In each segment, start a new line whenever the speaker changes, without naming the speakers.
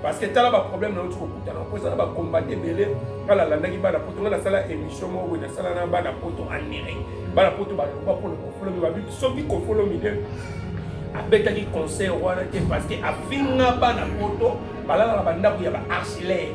parce que tala baproblème nauti kokutana mpo eza na bacombate ebele nga nalandaki bana poto nga nasala émission moko boye nasala na bana poto anere bana poto baloba mpona kofolomi babi soki kofolomi nde abetaki conseil wana te parce que afinga bana poto balalaka bandako ya baarchilaire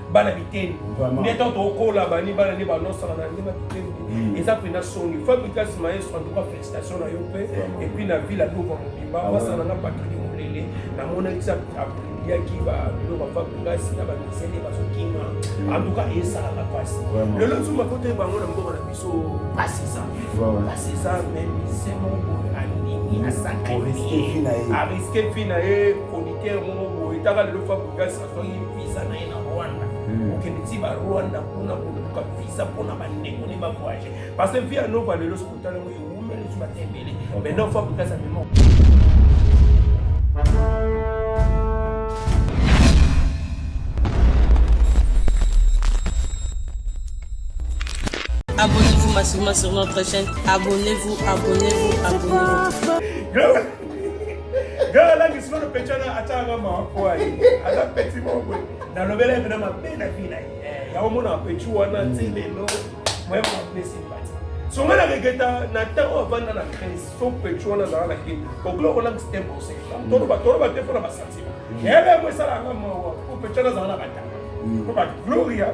bana biteni nde ntango tokola bani bana nde banosaka na nde na biteni hmm. eza mpenza songi fabrikas maestro antuka félicitation na yo mpe epuis na ville adova mobimba ah basana na patrik molele namonaki sa yaki babilo bafabrikas na bamisele bazokima antuka hmm. esalaka mpasi lelo zuma kote bango na mboka na biso mpasi eza mpasi eza me mise moko andimi asakariske fi na ye chroniqueur moko boye taka lelo fabrikas azwaki visa na ye na rwanda hmm. okende ti barwanda kuna koluka visa mpona bandeko ne bavoyage parce que via nova lelo soki otala yango ewumeli so bata ebele mais non fa bokasa memo
Abonnez-vous massivement sur notre chaîne. Abonnez-vous, abonnez-vous, abonnez-vous.
Gara la ngi solo pecha na atanga ma kwa yi. Aza peti mongwe. Na lobela mena mabe na vina yi. Eh, ya omona pechu wana tele no. Mwe ma pesi mbati. So ngana regeta na tango avanda na crise. So pechu wana zara na kin. Koklo kola ngi stembo se. Toro ba toro ba tefo na basati. Yebe mwe sala nga mwa. Ko pecha na zara na batanga. Ko ba gloria.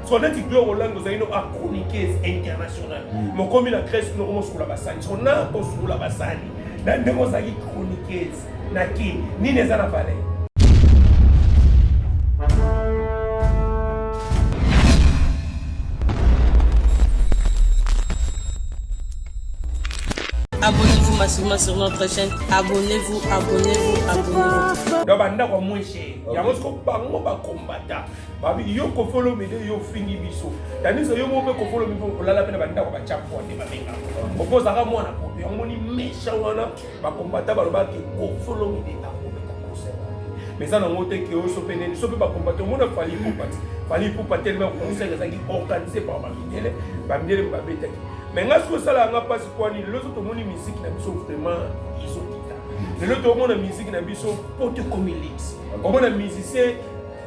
soko neti gloire olangi ozali no achroniqueuse internationale hmm. mokomi na grèce kuna omosukola basani soko na kosukola basani na ndenge ozalaki chroniqueuse na kin nini eza na valeur
Abonnez-vous massivement sur notre chaîne. Abonnez-vous, abonnez-vous, abonnez-vous.
Donc, banda kwa mwenche. Yango siko bango ba combattant. babi yo kofolo mide yo fingi biso tanisa yo moko kofolo mide olala pe na banda ko bacha kwa te babenga opoza ka mwana ko yo moni mesha wana ba combatta ba loba ke kofolo mide ta ko ko conseil mais ça na ngote ke oso pe ne so pe ba combatta mo na fali ko pati fali ko pati tellement conseil ça qui organisé par ba mindele ba mindele ba beta ki mais nga so sala nga pasi kwa ni lozo to moni musique na biso vraiment iso kita lelo to mona musique na biso pote comme elix omona musicien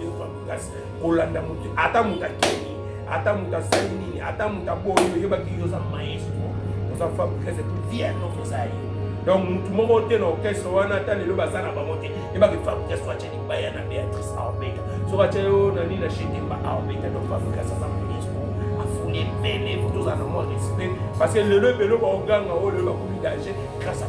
yehova makasi kolanda moto ata moto akei ata moto asali nini ata moto aboyi oyebaki yo oza maestro oza fabrikas etu vienne okoza ye donc motu moko te na orchestre wana ata lelo baza na bango te yebaki fabrikas to atya libaya na beatrice aobeta soki atya yo na nini na shetemba aobeta donc fabrikas aza maestro afuli ebele tozala na mwa respect parce que lelo ebele baoganga oyo lelo bakomi danger grâce à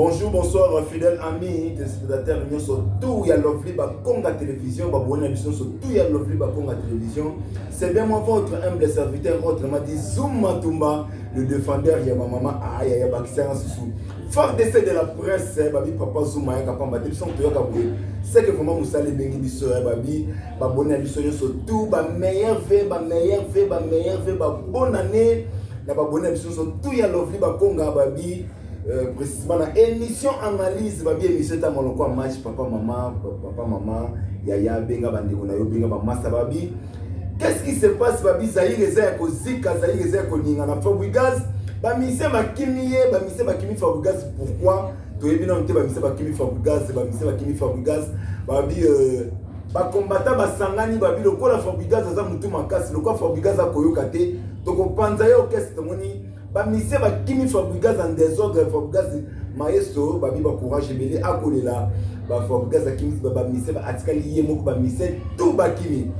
bonjour bonsoir fidèle ami téléspectateur nyonso tout ya lovely bakonga télévision baboni na biso nyonso tout ya lovely bakonga télévision c'est bien moi votre humble serviteur autrement dit zoom matumba le défendeur ya ba mama aya ya bakisanga susu fort de de la presse eh, babi papa zuma yaka pamba te biso toyaka boye seke vraiment mosala ebengi biso ya eh, babi baboni na biso nyonso tout ba meilleur ve ba meilleur ve ba meilleur ve babona ne na baboni na biso nyonso tout ya lovli bakonga babi euh, précisément na émission analyse babi émission etanga lokola match papa mama papa mama yaya benga bandeko na yo benga bamasa babi Qu'est-ce qui se passe babi Zaire eza ya kozika Zaire eza ya koningana Fabregas bamise bakimi ye bamise bakimi Fabregas pourquoi toyebi nano te bamise bakimi Fabregas bamise bakimi Fabregas babi euh, bakombata basangani babi lokola Fabregas aza motu makasi lokola Fabregas akoyoka te tokopanza ye orchestre tomoni ba musiciens ba kimi Fabregas en désordre Fabregas maestro babi ba courage ebele akolela ba Fabregas akimi ba ba musiciens ba atikali ye moko ba musiciens tout ba kimi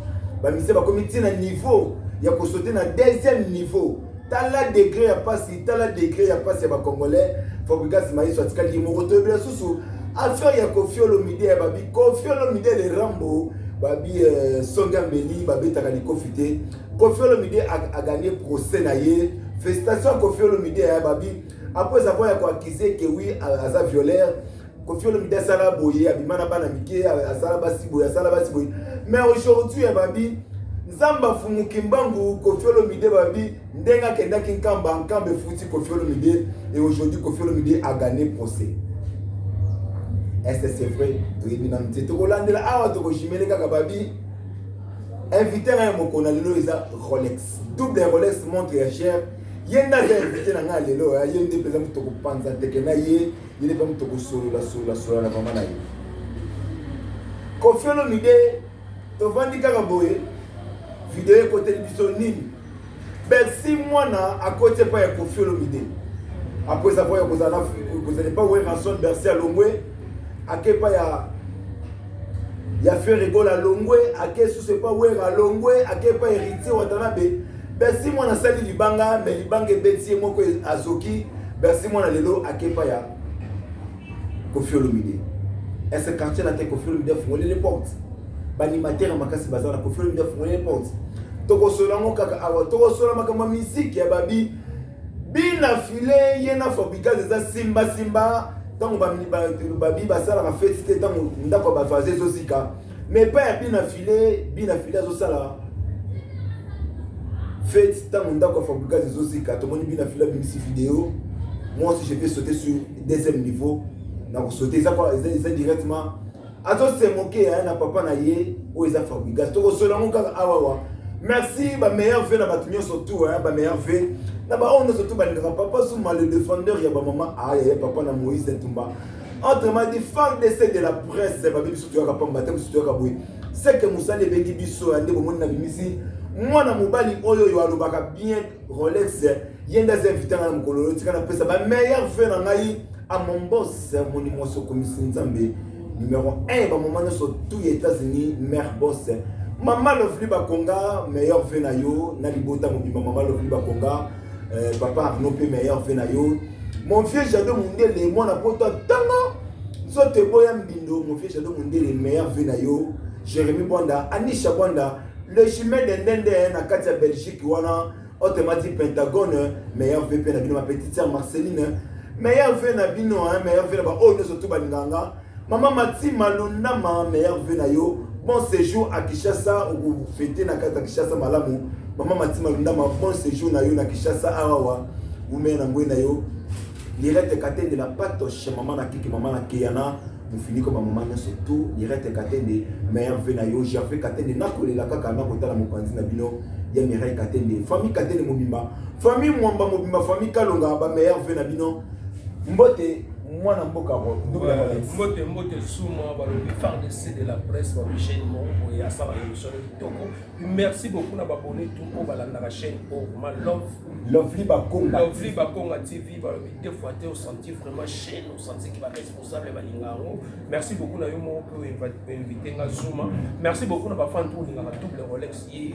ba musiciens ba komi tina niveau ya ko sauter na deuxième niveau tala degré ya pasi tala degré ya pasi ya ba congolais Fabregas maestro atikali ye moko toyebela susu affaire ya Koffi Olomide ya babi Koffi Olomide le Rambo babi euh, songa mbeli babetaka likofi te Koffi Olomide a, a gagné procès na ye. Félicitations Koffi Olomide ya babi. Après avoir ya ko accuser que oui aza violeur, Koffi Olomide asala boye, abima na bana mike, asala basi boye, asala basi boye. Mais aujourd'hui ya babi Nzambe afumuki mbangu Koffi Olomide babi ndenge akendaki Nkamba, Nkamba efuti Koffi Olomide et aujourd'hui Koffi Olomide a gagné procès. Est-ce que c'est vrai? Toyebi na mtie. Tokolandela awa tokojimele kaka babi invité na ye mokona lelo eza rolex double rolex montre ya cher ye nde aza invité na ngai lelo ye nde mpenza moto kopanza ndeke na ye ye nde mpe moto kosolola solola solola na mama na ye kofiolo mide tovandi kaka boye video ekoteli biso nini Bercy mwana akoti epai ya Koffi Olomide après savoir ya kozala kozala epai Werrason Bercy alongwe ake epai ya ya Ferre Gola alongwe ake susu epai Werra alongwe ake epai Heritier Watanabe Bercy mwana asali libanga me libanga ebeti ye moko azoki Bercy mwana lelo ake epai ya Koffi Olomide est ce quartier latin Koffi Olomide afungoli les portes baanimateur makasi baza na Koffi Olomide afungoli les portes tokosola yango kaka awa tokosola makambo ya miziki ya babi bina file ye na fabrikase eza simbasimba ntango babi basalaka feti te ntango ndako ya bavaze ezozika mais epai ya bina file bina file azosala fete ntango ndako ya fabricas ezozika tomoni bina file abimisi video moi aussi je vais sauter sur deuxième niveau nakosaute eza eza directement azosemoke ya na papa na ye oyo eza fabricas tokosola yango kaka awawa merci bameilleur ve na bato nyonso tout bameilleur ve na baoyo nyonso tout balingaka papa zuma le défendeur ya bamama aya ya papa na moïse ntumba Autrement dit, femme de c'est de la presse, babi biso toyaka pamba te biso toyaka boye. C'est que musali ebengi biso ya nde bomoni na bimisi mwana mobali oyo oyo alobaka bien Rolex ye nde aza invité ngai na mokolo oyo tika napesa ba meilleur vue na ngai a mon boss moni mwasi okomisi nzambe numero 1 bamoma nyonso tout ya états-unis mare boss mama lovli bakonga meilleur vue na yo na libota mobimba mama lovli bakonga euh, papa arno mpe meilleur mpe na yo mon vieux jado mondele mwana poto ntango nzoto eboya mbindo mon vieux jado mondele meilleur mpe na yo jérémi bwanda anisha bwanda le chemin de ndende eh, na kati ya belgique wana otemati pentagone meilleur mpe mpe na bino ma petite sœur marceline meilleur mpe na bino meilleur mpe na baoyo nyonso tu balinganga Maman Mati Malonda ma meilleure vue na yo. Bon séjour à Kinshasa ou fêter na kata Kinshasa malamu. Maman Mati Malonda ma bon séjour na yo na Kinshasa awa. Ume na ngwe na yo. Lirette Katende la patoche maman na kiki maman na Kiana. mofiniko bamama nyonso tu mirete katende meilleur ve na yo gerve katende nakolela kaka nakotala mopanzi na bino ya mirai katende famille katende mobimba famille mwamba mobimba famille kalonga bameilleur ve na bino mbote mwana mboka mbote mbote
suma balobi fardc de la presse balobi chaîne moko boye asala émission ya kitoko merci beaucoup na babone tout oyo balandaka chaîne oyo ma love lovely
bakonga lovely bakonga tv
balobi deux fois te osanti vraiment chaîne osanti ki baresponsable balinga yango merci beaucoup na yo moko mpe oinvite nga zuma merci beaucoup na bafan to olingaka double rolex ye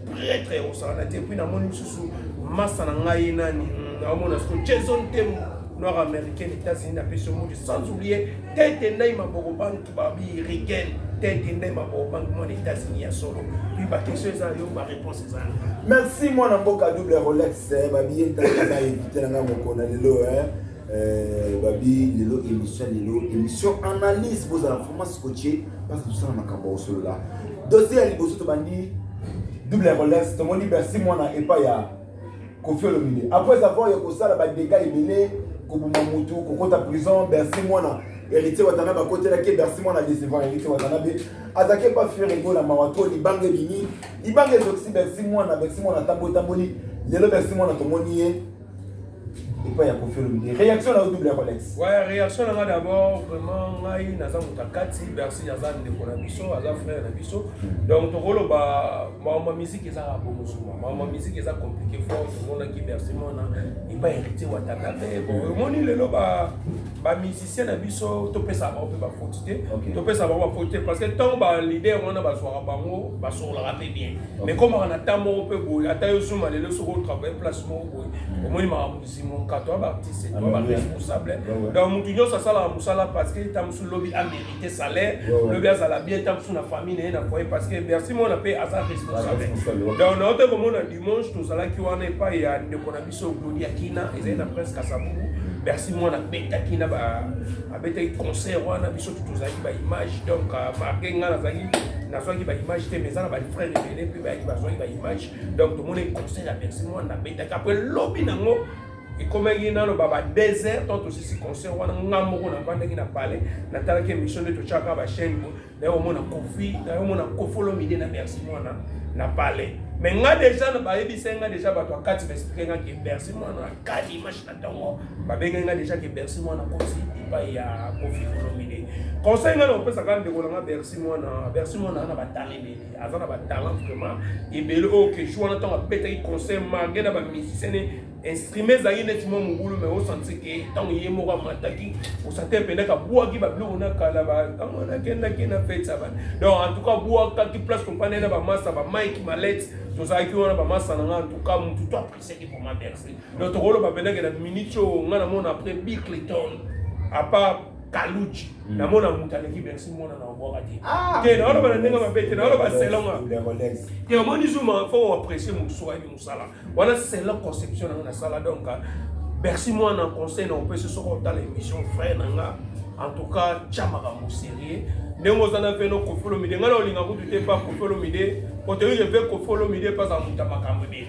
pretre ya kosakana te puis namoni lisusu masa na ngai nani hmm, naomona siko jason temo noir américain états-unis napesi yo modi sans oublier tete ndai maboko bantu babi riken tete ndai maboko bantu mwana états-unis ya solo puis baquestion eza yo baréponse eza merci mwana
mboka double rolex eh, babiye ntaka na evite na ngai mokona lelo eh. Euh, babi lelo émission lelo émission analyse bozala vraiment scotché parce que tosala makambo osolola dosie ya liboso tobandi double ya relance tomoni bercy mwana epai ya kofi olomide après avoir ya kosala badega ebele koboma motu kokota prison bercy mwana heritier watana bakotelaki bercy mwana décevant heritier watana be azalaki epa fiere egola mawa to libanga ebimi libanga ezokisi bercy mwana bercy mwana atamboli tamboli lelo bercy mwana tomoni ye epai ya kofi olomide réaction na yo double ya colex ouais réaction na nga
d'abord vraiment ngai naza moto ya kati bercy aza ndeko na biso aza frère na biso hmm. donc tokoloba maoma musique eza bomosuma maoma musique eza compliqué fort tomonaki bercy mwana epai héritier wataka te bon omoni lelo ba bamusicien na biso topesa bango mpe bafoti te topesa bango bafoti te parce que ntango balider wana bazwaka bango basololaka mpe bien mais komaka na temps moko mpe boye ata yo zuma lelo soki otravaille place omoni makambo mozingo nkato ya baartiste to ya baresponsable donc motu nyonso asalaka mosala parce que ta mosusu lobi amérite salaire lobi azala bien ta mosusu na famille na ye na foyer parce que bercy mona mpe aza responsable donc na ote komona dimanche tozalaki wana epai ya ndeko na biso gloria kina ezali na prince kasabubu bercy mwana abetaki na abetaki concert wana biso tu tozalaki baimage donc euh, marke ngai nazalaki nazwaki baimage te mais eza na bafrère ebele mpe bayaki bazwaki baimage donc tomoni conseil ya bercy mwana abetaki apres lobi nango ekomaki naloba ba deux heures to tosisi concert wana nga moko navandaki na palais natalaki émission nde totyaka bachaine nayo omona kofi nayo omona kofolomide na bercy mwana na palais mais nga deja bayebisaki nga deja bato akati baexplike nga ke bercy mwana akali image na ntongo babengaki nga deja ke bercy mwana kosi epai ya kofi kolomide conseil nga na kopesaka ndeko na nga bercy mwana bercy mwana na bataleli aza na batalent vraiment ebele oyo oh, keju wana ntango abetaki concert marge na bamusicien ne instrument ezalaki neti mwa mobulu mai osanti ke ntango ye moko amataki osante mpendaka abwaki babiloko na kala ntango wana akendaki na fete ya bana donc antuka abwakaki place topanda ye na bamasa bamike malete tozalaki wana bamasa na nga antuka motu to apreciaki vraiment merci donc tokoloba mpendake na minute oyo nga namona après bicleton apart kaluji hmm. namona moto aleki bersi mwana na obwaka te ah! te naoloba na ndenge mabe te naoloba selonga te omoni zuma fo oaprecie mosusu ayebi mosala wana selon conception nango nasala donc bersi mwana conseil na opesi soki otala émission frère na nga en tout cas tya makambo sérieux ndenge oza na mpe no kofolomide ngai na olinga kutu te mpa kofolomide otoyike mpe kofolomide mpe aza moto ya makambo ebele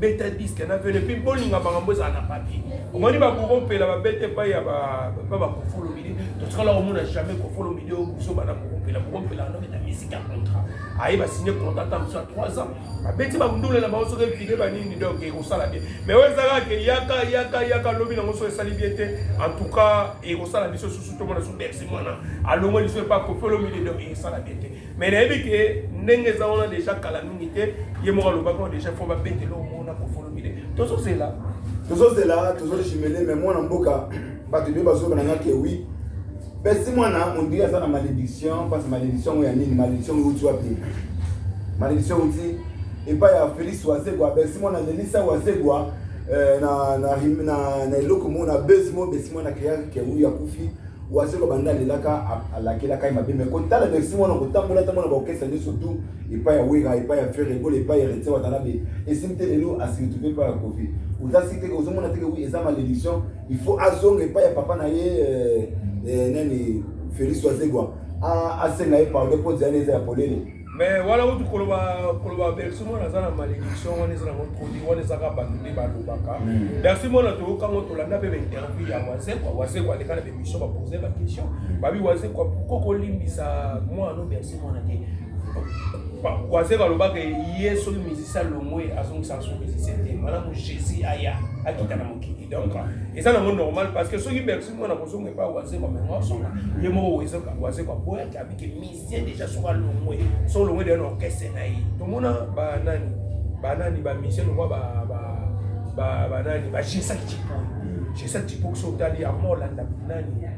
beta diske na velo epuis bolinga makambo ezala na papier omoni bakokopela babete epai ya bakofolo midi totikala komona jamais kofolo midi oyo biso bana kokopela kokopela wana beta misiki ya contrat aye basigne contrat ata mosu ya 3 ans babeti bamundule na bango soki epide banini donc ekosala bien mais oyo ezalaka ke yaka yaka yaka lobi nango soki esali bien te en tout cas ekosala biso susu tomona su bersi mwana alongoli so epa kofolo midi donc esala bien te mais nayebi ke ndenge eza wana deja kala mingi te ye moko alobaki oyo deja fo babetela omona kofolomide tozozela tozozela tozojimele me mwana mboka
bato ebele bazoloba nanga ke wi pesi mwana ondiri aza na malédiction mpasi malédiction yango ya nini malédiction yango euti wapi malédiction euti epai ya félix wazegwa besi mwana lelisa wazegwa eh, na eloko moko na besi moko besi mwana kreaki ke wi akufi wazeko banda alelaka alakelaka ye mabe mai kotala merci mwana kotambola tambola baokesa nyonso tu epai ya wera epai ya fere ebola epai ya retia watanabe esimi te lelo asiretrouve epai ya kofi oza si teke ozomona teke wi eza malediction il faut azonga epai ya papa na ye eh, eh, nani félix wazegwa asenga ye pardon mpo nzela eza ya polele mais wana utu
koloba koloba bercy mwana aza na malédiction wana eza nango trodi wana ezaka bato nde balobaka hmm. bercy mwana toyoka ngo tolanda mpe bainterview ya wazekwa wazekwa aleka na bemission bapose baquestion hmm. babi wazekwa pourkoi kolimbisa mwana no bercy mwana te wazekwa alobaka ye soki misisi alongwe azongisa so misisi te malamu jésus aya akita na mokili donc eza nango normal parce que soki bercy mwana kozonga epai wazekwa mengo asonga ye moko wazekwa boyaki abiki musicien deja soki alongwe soki olongwe deja na orchestre na ye tomona banani banani bamusicien lokwa banani bajesaki cipoyo jesaki cipoyo soki otali yango olanda nani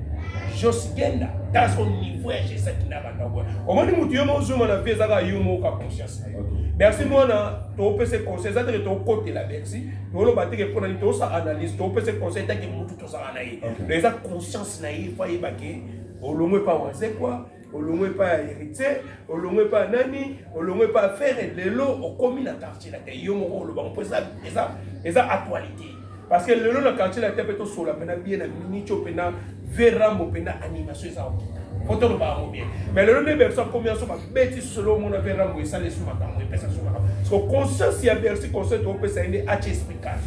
jos genda ta son niveau ya jesaki na bandako omoni motu yo mozuma na vie ezaka yo moka conscience na yo bercy mwana topese conseil eza teke tokotela bercy toloba teke mpo na nini tosa analyse topese conseil etake motu tozala na ye eza conscience na ye fo ayebake olongo epai wazekwa olongo epai ya héritier olongo epai ya nani olongo epai ya fere lelo okomi na quartier na te yo moko oloba mpo eza eza eza actualité parce que lelo na quartier na te mpe tosola mpena bie na minico mpena verambo mpena animation eza okita mpo toloba yango bien mais lelo nde berso akomi yanso babeti solo omona verambo esala esu makambo epesa su makambo so conscience ya bersi conscience toopesa ye nde atie esprit calme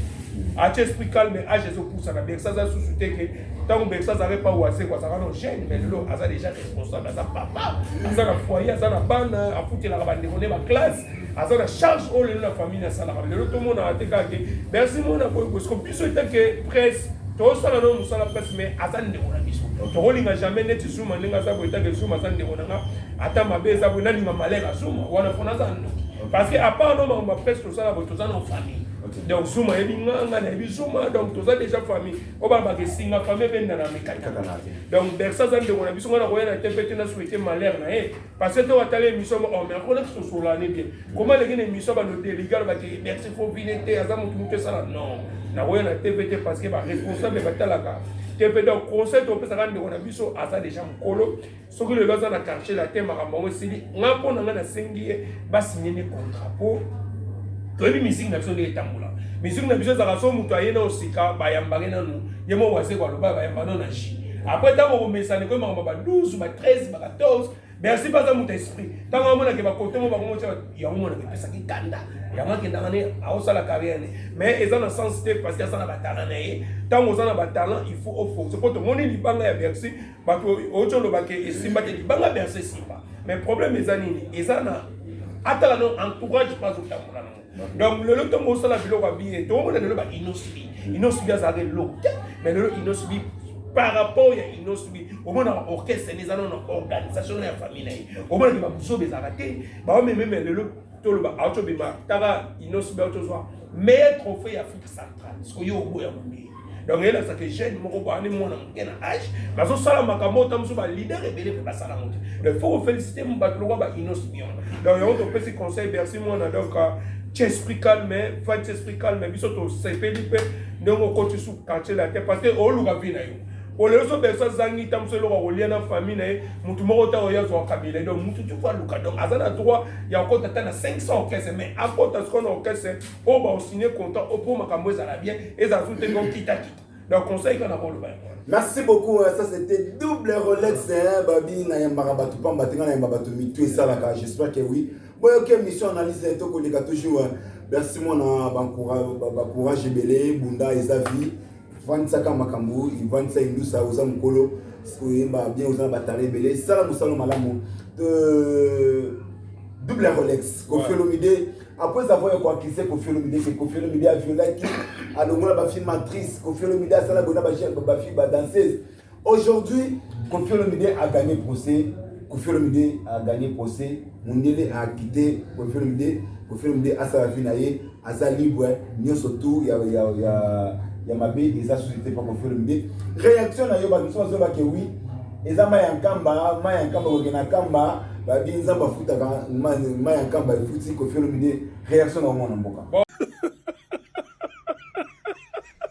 atie esprit calme age ezopusana bersi aza susu te ke ntango bersa azalaka epa wasekwa azalaka no jeune mais lelo aza déjà responsable aza papa aza na foyer aza na bana afutelaka bandeko nde baklasse aza na charge oyo lelo na famille asalaka lelo tomonaka te kaka ke bersi mona boye bosiko biso etake presse tosala no mosala presse mais aza ndeko na biso tokolinga jamais neti zuma ndenge aza boye etake zuma aza ndeko na nga ata mabe eza boye nalinga malere ya zuma wana mpona aza ndoki parce que apart no makambo ya presse tosala boye toza na famille donc zuma yebi nga nga nayebi zuma donc toza déjà famille oba bakesinga fami ebendana mikakatana te donc bersa aza ndeko na biso ngai nakoya na tempe te na souhaite malheur na ye parce que to atala émission mo oh mais akona kisosolane bien koma aleki na émission bano deligal bake bersa fo vine te aza motu motu esala non nakoya na tempe te parce que baresponsable batalaka tempe donc conseil topesaka ndeko na biso aza déjà mokolo soki lelo aza na quartier latin makambo yango esili nga mpo na nga nasengi ye basigne nde contrat mpo toyebi miziki na biso nde etambola miziki na biso ezalaka so moto aye na osika bayambake nanu ye mo wazeko aloba bayamba no na ji apres ntango komesana ekoyi makambo ba 12 ba 13 ba 14 bersi mpe aza moto esprit ntango amonake bakote mo bango motya yango monaka epesaki kanda yango akendaka ne aosala carrière ne mais eza na sens te parce que aza na batalan na ye ntango oza na batalan il faut ofonse mpo tomoni libanga ya bersi bato outi oloba ke esimba te libanga berse esimba mais problème eza nini eza na atala no entourage mpe azotambola nango donc lelo ntongo osala biloko ya biye tokomona lelo ba inosbi inosbi azalaka eloko te mais lelo inosbi par rapport ya inosbi omonaka orchestre ne eza no na organisation na ya famille na ye omonaki babuzoba ezalaka te baomememe lelo toloba aotobima taka inosbi aotozwa meilleur trophée ya afrique centrale soki yo oboya mondele donc elakisa ke jeune moko boyani mwana moke na age bazosala makambo ota mosusu balider ebele mpe basala yango te donc faut kofélicite bato lokwa ba inosibion donc yango topesi conseil bercy mwana donc euh, esprit calme fati esprit calme biso tosepeli mpe ndenge okoti su quartier la te parce que oluka vi na yo olelo so bercy azangi ntango mosusu eloko akolia na famille na ye motu moko ntango ye azwa kabila donc motu tuku aluka donc aza na droit ya kokota ata na 500 orchestre mais akota sikoyo na orchestre oyo ba osigne content opo makambo ezala bien ezala tu te donc kita kita donc conseil kana ko loba Merci beaucoup, hein.
ça c'était double Rolex, hein, Babi, Nayambara Batou Pamba, Tenga Nayambara Batou Mitou et Salaka, j'espère que oui. Bon, ok, mission analyse, hein, Toko Lega toujours, hein. merci moi, na, ba courage, ba, ba courage, Ebele, Bunda, Ezavi, vandisaka makambo vandisa indusa oza mokolo oyemba bien oza na batala ebele sala mosala malamu euh, double rolex kofi olomide après avoir koakise kofi olomide se kofi olomide aviolaki alongola bafilme actrice kofi olomide asala boye na bafilme badanseuse Aujourd'hui, Koffi Olomide a gagné procès. Koffi Olomide a gagné procès. Mundele a quitté Koffi Olomide. Koffi Olomide asala vie na ye, aza libre, nyonso tout ya ya ya ya mabe eza société pa Koffi Olomide. Réaction na yo ba biso bazoba ke oui, eza mai ya nkamba, mai ya nkamba kokende na nkamba, babi nzambe afutaka mai ya nkamba efuti Koffi Olomide. Réaction na omona mboka.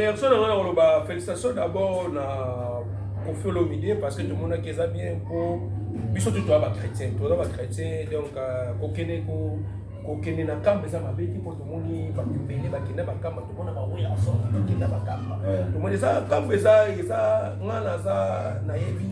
réaction na nga na koloba félicitation d'abord na kofi olomide parce que tomonaki eza bien mpo biso tu toza bachrétien toza bachrétien donc euh, kokende ko kokende na kamba eza mabe te mpo tomoni bato ebele bakenda bakamba tomona baweyaso bakenda bakamba tomoni eza kamba eza eza nga naza nayebi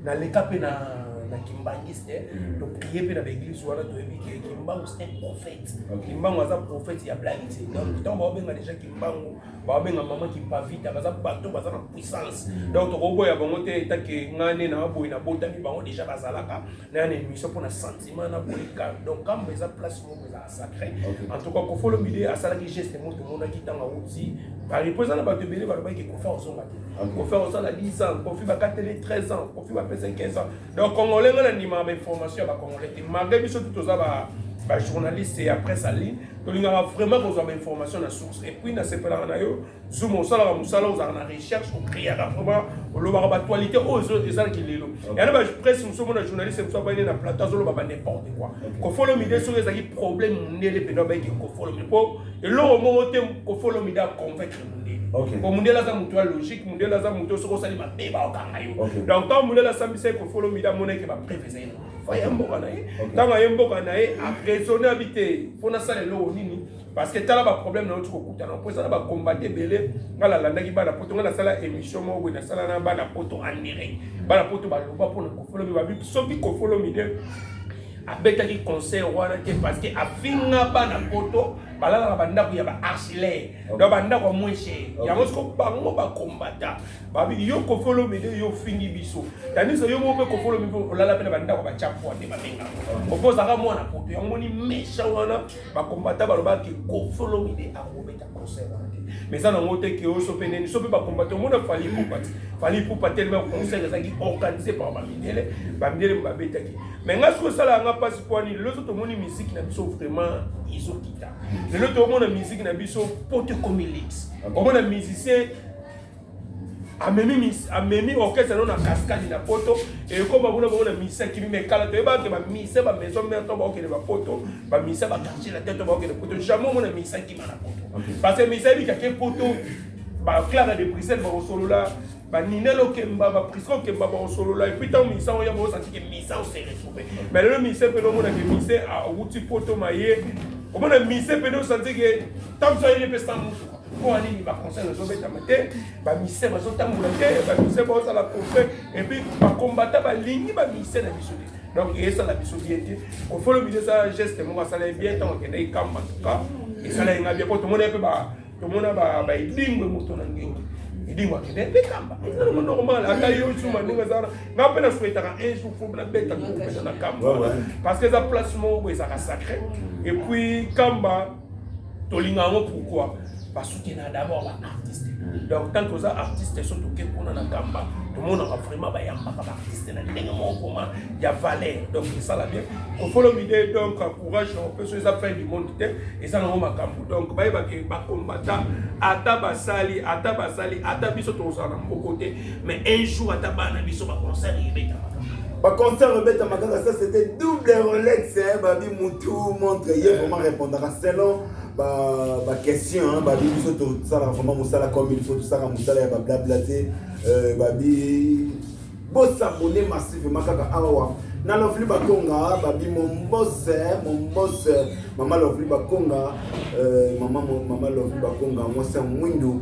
Na leka pe na na kimbanguiste mm. to prie mpe na baeglise wana toyebi ke kimbangu c'est un prophète kimbangu aza prophète ya blagi te donc mm. ntango baobenga déjà kimbangu baobenga mama kimpavita baza bato baza na puissance mm. donc tokoboya bango te etake ngai nde na boye nabotami bango déjà bazalaka na ya na émission mpo na sentiment na boyika donc kambo eza place moko eza sacré okay. en tout cas kofolo mbili asalaki geste moko tomonaki ntango awuti paris mpo eza na bato ebele balobaki kofi ozonga te kofi osala 10 ans kofi bakateli 13 ans kofi bapesa 15 ans donc congolais nga na ndimaka bainformation ya bacongolais te malgré biso tu toza ba bajournaliste ya presse en ligne tolingaka vraiment kozwa bainformation na source epuis nasepelaka na yo zuma osalaka mosala ozalaka na recherche okriaka vraiment olobaka batualité oyo ezalaki lelo yana bapresse mosusu omona journaliste mosusu abayine na plateau azoloba ba n'importe quoi kofolomide soki ezalaki problème mondele mpena abayiki kofolomide mpo eloko moko te kofolomide aconvaincre mondele mpo mondele aza moto ya logique mondele aza moto soki osali mabe baokanga yo donc ntango mondele asambisaki kofolomide amonaki bapreve ezali na faya mboka na ye ntango aye mboka na ye araisonne abi te mpo nasala eloko nini parce que tala baproblème nauti kokutana mpo eza na bacombate ebele ngai nalandaki bana poto ngai nasala émission moko boye nasala na bana poto anire bana poto baloba mpona kofolomi babi soki kofolomi de abetaki conseil wana te parce que afinga bana poto balalaka bandako ya baarchilaire donc bandako ya moins cher yango soko bango bakombata babi yo kofolomi de yo ofingi biso tandis yo moko mpe kofolomi mpe olala mpe na bandako batya pwa nde babenga okozaka mwana poto yango moni méchant wana bakombata balobaki kofi olomide akobeta concert wana te mais eza nango te ke oso mpe neni so mpe bakombata omona fali ipupa te fali ipupa telema concert ezalaki organise par bamindele bamindele babetaki mais ngai soki osala yanga mpasi mpwani lelo so tomoni miziki na biso vraiment ezokita lelo tomona miziki na biso po tokomi lix omona musicien amemi amemi orchestre no na cascade na poto ekoma kuna bango na misa kimi me kala toyebaka ke bamisa bamaison mare to baokende bapoto bamisa bakartier na te to baokende poto jamais omona misa kima na poto parce que misa ebikake poto baclara de bruxelles bakosolola baninel okemba baprisco okemba bakosolola epuis ntango misa yango yango osatike misa oseresupe me lelo misa mpene omonake misa awuti poto maye omona misa mpene osantike ntango so ayeli mpe sa motuka mpo nini baconseil ezobetama te bamise bazotambola te bamise baozala kofe epuis bakombata balingi bamise na biso te donc esala biso bien te ofolo biso eza geste moko asala ye bien ntango akendaki kamba tuka esala ye nga bien mpo tomona ye mpe tomona baedingwe moto na ngengi idingo akende mpe kamba eza nango normal ata yo suma ndenge eza wana nga mpe nasuetaka un jour fo nabeta kopesa na kamba parce que eza place moko ezalaka sacré et puis kamba tolinga yango pourquoi basutena d'abord baartiste mm. donc tant toza artiste so toke kuna na kamba tomonaka vraiment bayambaka baartiste na ndenge moko koma ya valeur donc esala bien ofolomide donc courage na opeso eza fin du monde te eza nango makambo donc bayebake bakombata ata basali ata basali ata biso tozala na mboko te mais un jour ata bana biso ba
concert ebetama ba concert ebetama kaka ça c'était double rolex hein babi mutu montre ye vraiment répondaka selon ba ba question hein babi biso tosala vraiment mosala comme il faut tosala mosala ya ba blabla te euh, babi bosabone massivement kaka awa na lovely bakonga babi mombose mombose mama lovely bakonga euh, mama mama lovely bakonga mwasi ya mwindu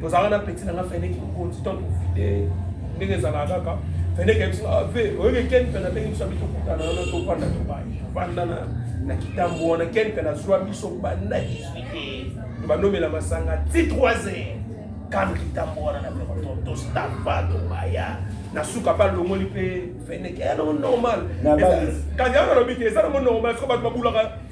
tozalaka na peti na nga feneki mokonzi to tofide ndenge ezalaka kaka feneki ya biso ave ah, oyoki ken mpe nabengi biso abi tokutana wana tofanda tobai tofanda na kitambo wana ken mpe nazwa biso banda 18 banomela masanga ti 3 heures kano kitambo wana na tostamba tobaya na suka mpe alongoli mpe feneki yango normal kasi yango nalobi te eza nango normal soko bato babulaka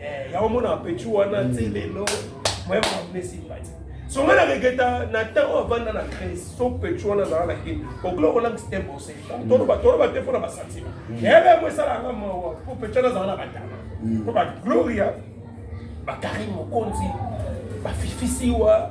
Eh, ya omona petit wana ti mm. lelo moyen bamne sympathie songa na regeta na temps oyo avanda na crise so petit wana azala na kini okula okolangisi te bose mm. toloba toloba te mpo na basantima mm. yebe yango esalanga mawa mpo petit wana azala na batana mpo bagloria bakari mokonzi bafifisiwa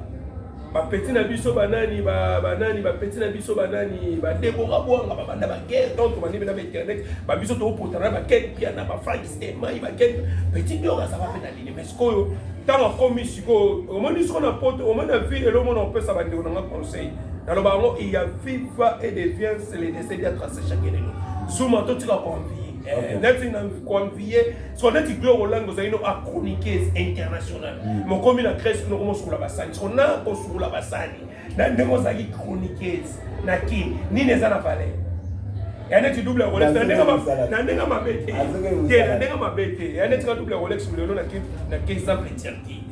ba petit na biso ba nani ba ba nani ba petit na biso ba nani ba Deborah Bwanga ba banda ba guerre donc ba nibe na internet ba biso to potana ba ken pia na ba Frank Stemay ba ken petit Diora ça va pe na lini mais sikoyo ntango akomi sikoyo omoni siko na poto omoni na vie elo omona opesa bandeko na nga conseil naloba yango il y a viva et de viens le décès dia tracé chaque elelo zuma totika koanvie eh, neti na koanvie siko neti gloire olangi ozali no achroniqueuse internationale mm. mokomi na grèce kuna okoma osukula basani siko na kosukula basani na ndenge ozalaki chroniqueuse na kin nini eza na valeur ya neti double rolex na ndenge mabe te te na ndenge mabe te ya neti ka double rolex lelo na ke exemple tirki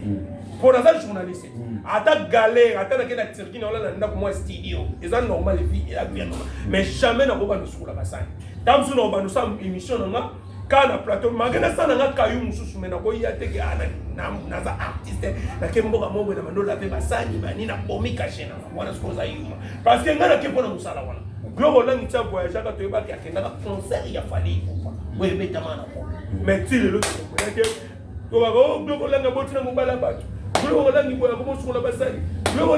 mpo mm. naza journaliste mm. ata galère ata nake na tirki na ola na ndako mwa studio eza normal epuis eza bien normal mais jamais nakoba nosukola basani ntango mosusu nakobanda osala émission na nga kaka na plateau make nasala nga kayu mosusu me nakoya teke ah, naza artiste nake mboka moko na mandola mpe basani bani nabomi kashe na wana soki oza yuma parce que ngai nake mpo na mosala wana biloko olangi tia voyageaka toyebaki akendaka concert ya fali ikupa oyo ebetama na ko mais ti lelo tokoyake tobaka o biloko olangi abotina mobala bato biloko olangi boyaka bosukola basani biloko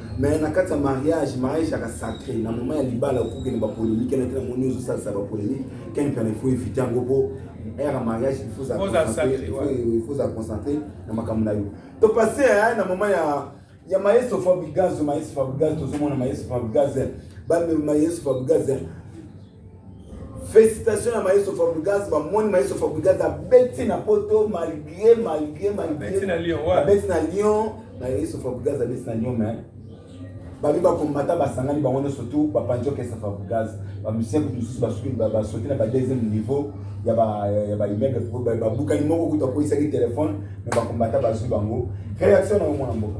mais na kati ya mariage mariage yaka sacré na moment ya libala okokende ba polémique na te na moni ozosalisa ba polémique ken kana faut éviter yango po ere ya mariage il faut za concentre na makambo na yo to passe na moment ya ya maestro fabrigaz maestro fabrigaz tozomona maestro fabrigaz ba maestro fabrigaz Félicitations à Maestro Fabregas, ma moine Maestro Fabregas a bêté na poto malgré malgré malgré. Bêté na
Lyon, ouais. Bêté na Lyon, Maestro
Fabregas a bêté na Lyon mais babi bakombata basangani bango nyonso tu bapanzi okesa Fabregas bamusien kutu mosusu basuki basoki na ba deuxième niveau ya baimmeuble babukani moko kutu akoyisaki telefone mais bakombata bazwi bango réaction na omona mboka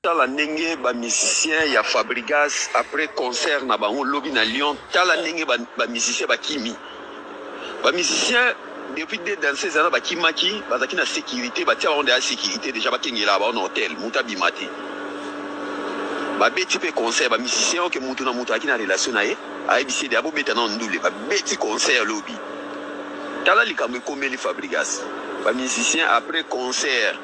Tala ndenge ba musiciens ya Fabrigas après concert na bango lobi na Lyon, tala ndenge ba, ba musiciens bakimi. Ba musiciens depuis deux danseuses wana bakimaki, bazalaki na sécurité, batia bango deja sécurité deja bakengelaka bango na hotel, mutu abima te. Babeti mpe concert, ba musiciens oke okay, mutu na mutu azalaki na relation na ye, ayebisi ye deja bobeta nao ndule, babeti concert lobi. Tala likambo ekomeli Fabrigas, ba musiciens après concert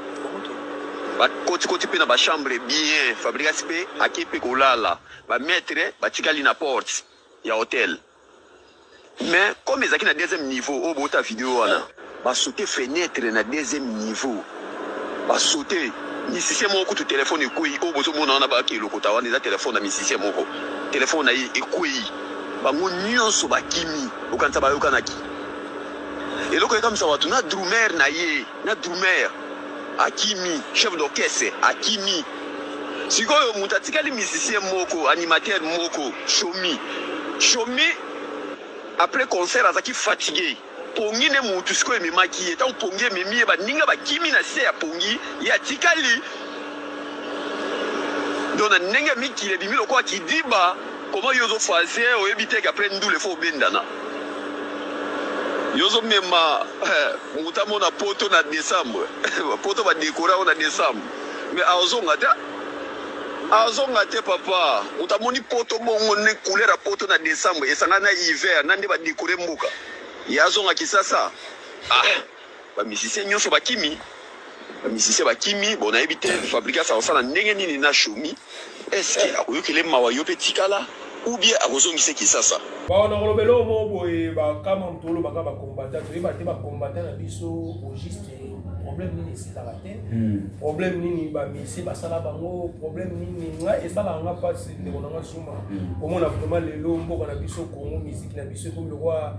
bakotikoti mpe na bachambre bien fabrigas mpe ake mpe kolala bamaitre batikali na porte ya hotel mais comme ezalaki na deuxième niveau oyo bota video wana basote fenêtre na deuxième niveau basote misicien moko kutu telefone ekwei oyo bozomona wana baki elokota wana eza telefone na misicien moko telefone na ye ekwei bango nyonso bakimi okanisa bayokanaki eloko ekamisa bato na drumer na ye na drummer akimi chef d'orchestre akimi sikoyo moto atikali musicien moko animateur moko shomi shomi après concert azaki fatigue pongi nde motu sikoyo ememaki ye ntango pongi ememi ye baninga bakimi na se ya pongi ye atikali donc na ndenge ya mikili ebimi lokola kidiba Comment yo ozo faze oyebi te qu'après ndule faut obendana yo ozo mema moto amona poto na décembre poto ba décora yo na décembre mais azonga te azonga te papa moto amoni poto bongo ne couleur ya poto na décembre esanga na hiver na nde ba décore mboka ye azonga kisasa ah. ba musiciens nyoso bakimi ba musiciens bakimi bon nayebi te fabrigas akosala ndenge nini na shomi eske akoyokele mawa yo mpe tikala ou bien akozongise kisasa bawa na koloba eloko
moko boye bakama moto olobaka bakombata toyeba te bakombata na biso au juste problème nini esilaka te hmm. problème nini bamisie basala bango problème nini ngai esalaka nga mpasi ndeko na nga zuma hmm. omona vraiment lelo mboka na biso kongo miziki na biso ekomi lokola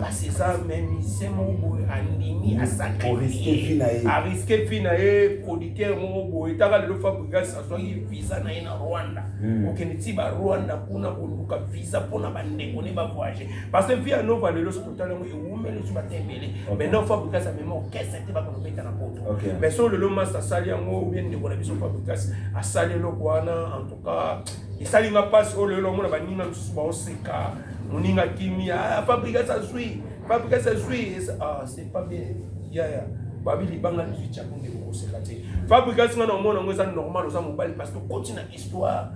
kasi eza memise moko boye andimi asakariske vi na ye producteur moko boye taka lelo fabrigas azwaki visa na ye na rwanda hmm. kokende ti barwanda kuna koluka visa mpona bandeko ne bavoyage parce que vi anova lelo soki otala yango ewumeli so bata ebele maintenant fabrigas amema orchestre te bakona obeta na poto mais so lelo mas asali yango obie ndeko na biso fabrigas asali eloko wana en tout cas esali nga mpasi oyo lelo omona baninga mosusu baoseka Moninga kimia, ah, Fabrigas azui, Fabrigas azui. Ah, c'est pas bien. Ya ya. Babi libanga lizui tshako nde kokoseka te. Fabrigas nga na omona yango eza normal oza mobali parce que okoti na histoire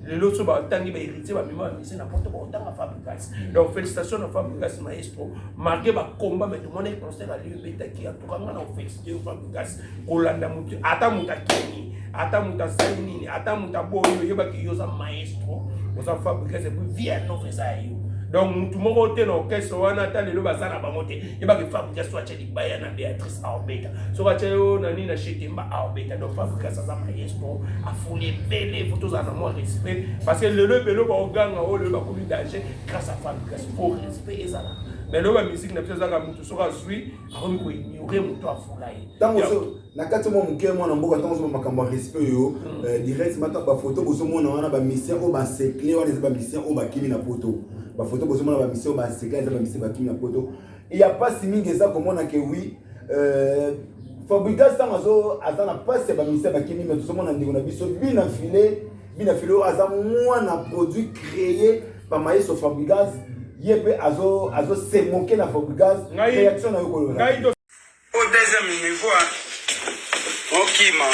lelo so batangi baheritier bamema bamise na poto baotanga fabrigas donc félicitation na fabrigas maestro marke bacomba mai tomona concert aliyo ebetaki antuka nga na ofélicitation fabrigas kolanda moto ata moto akeni ata moto asali nini ata moto aboyi oyebaki yo oza maestro oza fabrikas epuis vie nova eza ya yo donc motu moko te na orchestre wana ata lelo baza na bango te yebaki fabrikas so atya libaya na béatrice aobeta soki atya yo na nini na chetemba aobeta donc fabrikas aza maestro afuli ebele fo tozala na mwa respect parce que lelo ebele baoganga oyo lelo bakomi danger grâce à fabrikas po respect ezala mais lelo bamusike na biso ezaka motu soki azwi akomi koignore moto afula ye ntango na
kati mwa moke mwana mboka ntango ozoma makambo ya respect yo hmm. eh, direct mata bafoto bozomona wana bamisien oyo basekle wana eza bamisien oyo bakimi na poto bafoto bozomona bamisien oyo basekle eza bamisien bakimi na poto ya mpasi mingi eza komona ke wi eh, fabrigas ntango aza na mpasi ya bamisien bakimi me tozomona ndeko na biso bina file Bina Filo aza mwana produit créé par Maestro Fabregas ye mpe azo azo se moquer na Fabregas réaction na yo ko lona au deuxième
niveau okima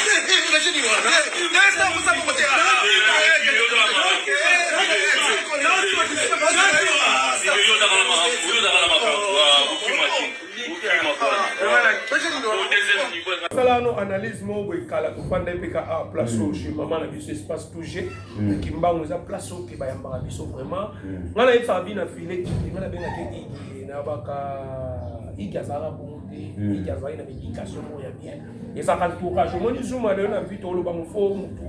salano analyse moko boye kala tofanda epeka a place oyo chez mama na biso espace touge kimbango eza place oyo keba yambaka biso vraiment nga na yebisaka bino na file kiti nga nabengaki igi na baka igi azalaka bongo te igi azalaki na baéducation moko ya bien ezaka entourage omoni zuma lelo na vite oloba mofo motu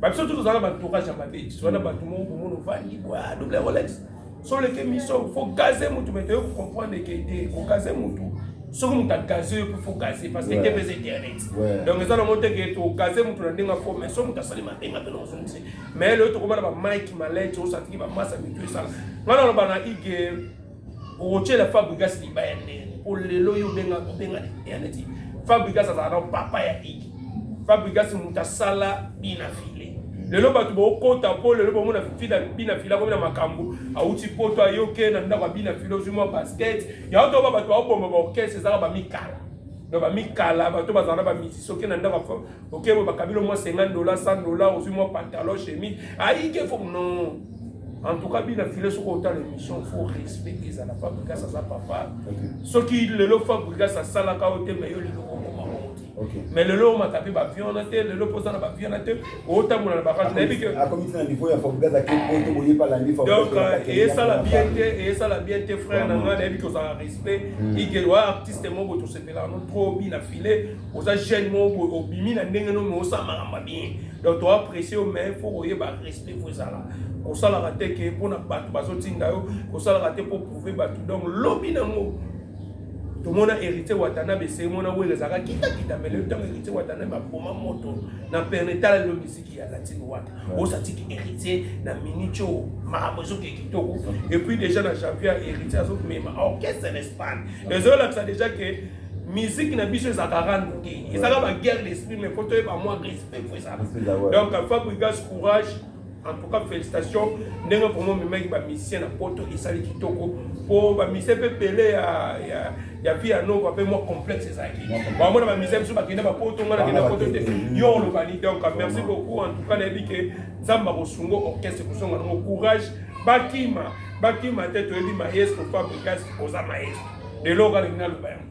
babiso tu tozalaka baentourage ya mabe wana bato moko komona ovandi bwa double rolex so oleki emission fo gaze mutu me toye kocomprendre ke te kogaze mutu soki moto agaze yo mpe fo gaze parce que tepeza internet donc eza nango te ke togaze moto na ndenge fo mais so moto asali matenga mpe nakozongisa mais lelo tokomana bamike malete osatiki bamasa mitu esala ngai naloba na ige okotyela fabrigas libaya ndene mpo lelo yo obenga obenga internet fabrigas azala na papa ya ige fabrigas moto asala bina file lelo bato baokota mpo lelo bomona fida bina fila akomi na makambo auti poto ayoke na ndako ya bina fila ozwi mwa basket yango toba bato baoboma baorkestre ezalaka bamikala donc bamikala bato bazala na bamizisi oke na ndako oke boye bakabilo mwa 50 dola 100 dola ozwi mwa pantalon chemise ayike fo non en tout cas bina file soki otala émission fo respect ezala fabrigas aza papa soki lelo fabrigas asalaka oyo te me yo lelo Okay. Mais le lot m'a tapé ba viande te, le lot posa na ba viande te, o tambola na ba viande na bike. A comme na niveau ya Fabregas
à quel point boye pas la niveau. Donc euh, et ça
la bien te, et ça la bien te frère na nga na bike oza respect. Hmm. Il que wa artiste mo boto se pela no trop bi na filet, oza jeune mo bo obimi na ndenge no mo sa maramba bien. Donc toi apprécier mais faut oye ba respect faut ça là. kosalaka te ke mpo na bato bazotinda yo kosalaka te mpo prouve bato donc lobi nango tomona héritier watanabe se mona wele ezalaka kitakita mele ntango héritier watanabe aboma moto na perne tala lelo miziki ya latine wana osatiki héritier na minico makambo ezoke kitoko epuis déjà na janvier héritier azomema orchestre na espagne ezolakisa déjà ke musique na biso ezalaka rando te ezalaka baguerre d'esprit mais po toyeba mwa respect po ezalaka donc fabrigas courage En tout cas, félicitations. Ndenge vraiment memaki ba musiciens na poto esali kitoko. Po ba musiciens pe pele ya ya ya vie ya noko pe moi complexe ezaki. Ba mona ba musiciens biso ba kenda ba poto ngana kenda poto te. Yo on lobani donc merci beaucoup en tout cas na bike Zamba kosungo orchestre kusonga ngo courage bakima bakima te toyebi maestro Fabricas oza maestro. Lelo kala ngina loba yango.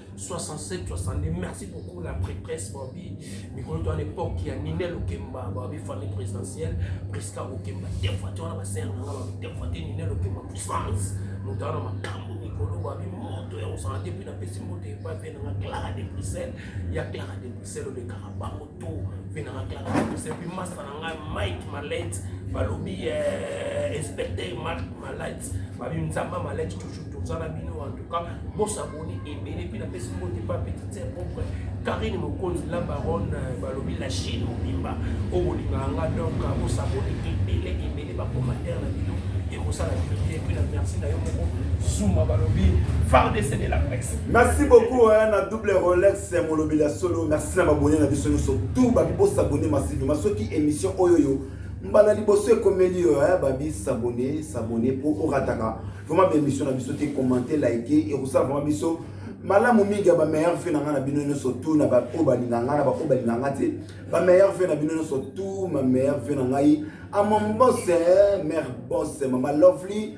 67 62 merci beaucoup la prêtresse babi mikolo to à l'époque ya Ninel Okemba babi famille présidentielle Prisca Okemba defuate wana basere na nga babi defuate Ninel Okemba puissance moto wana makambo mikolo babi moto ya kosala te mpe napesi moto epai mpe na nga Clara de Bruxelles ya Clara de Bruxelles olekaka bango to mpe na maklasse epi masta na ngai mike malet balobi eh, inspecteur mark malet babi nzamba malet toujours toza na bino en tout cas bosaboni ebele mpe napesi mbote mpa petite sœur propre karine mokonzi la baronne eh, balobi la chine mobimba oyo bolingaka nga donc eh, bosaboni ebele ebele bacommentaire na bino ekosala bino te mpe na merci na yo moko zuma balobi fardc de la presse merci beaucoup
na double rolex c'est molobeli ya solo merci na babone na biso nyonso tout babi bosabone massivement soki émission oyo yo mbala liboso ekomeli yo ya babi sabone sabone mpo orataka vraiment baémission na biso te commente like ekosala vraiment biso malamu mingi ya bameilleur fe na ngai na bino nyonso tu na baoyo balinga ngai na baoyo balinga ngai te bameilleur fe na bino nyonso tu mameilleur fe na ngai amambose mare bose mama lovely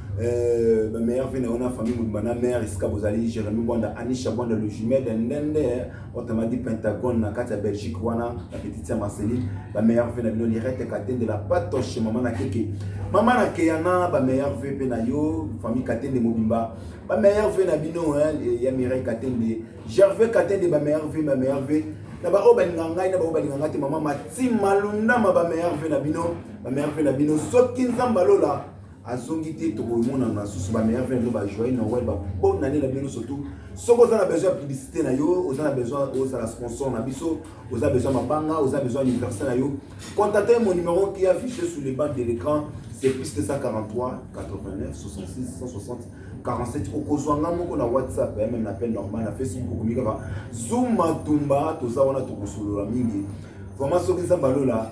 Euh, ba meilleur vie na yo na famille mobimba na mère esika bozali jérémi bwanda anisha bwanda le jumel ya ndende otamadi pentagone na kati ya belgique wana na petite ya marceline ba meilleur vie na bino lirete katende la patoche mama na keke mama na keyana ba meilleur vie mpe na yo famille katende mobimba ba meilleur vie na bino ya mireille katende gervais katende ba meilleur vie ba meilleur vie na baoyo balinga ngai na baoyo balinga ngai te mama mati malundama ba meilleur vie na bino ba meilleur vie na bino soki nzambe alola azongi te tokomona basusu ba meilleur vin ba joyeux noël ba bonne année na bino surtout soki oza na besoin ya publicité na yo oza na besoin ozala sponsor na biso oza besoin mabanga oza besoin anniversaire na yo contacte mon numéro qui affiché sur les bandes de l'écran c'est plus 243 89 66 160 47 okozwa nga moko na whatsapp ya meme na appel normal na facebook okomi kaka zuma tumba toza wana tokosolola mingi vraiment soki nzambe alola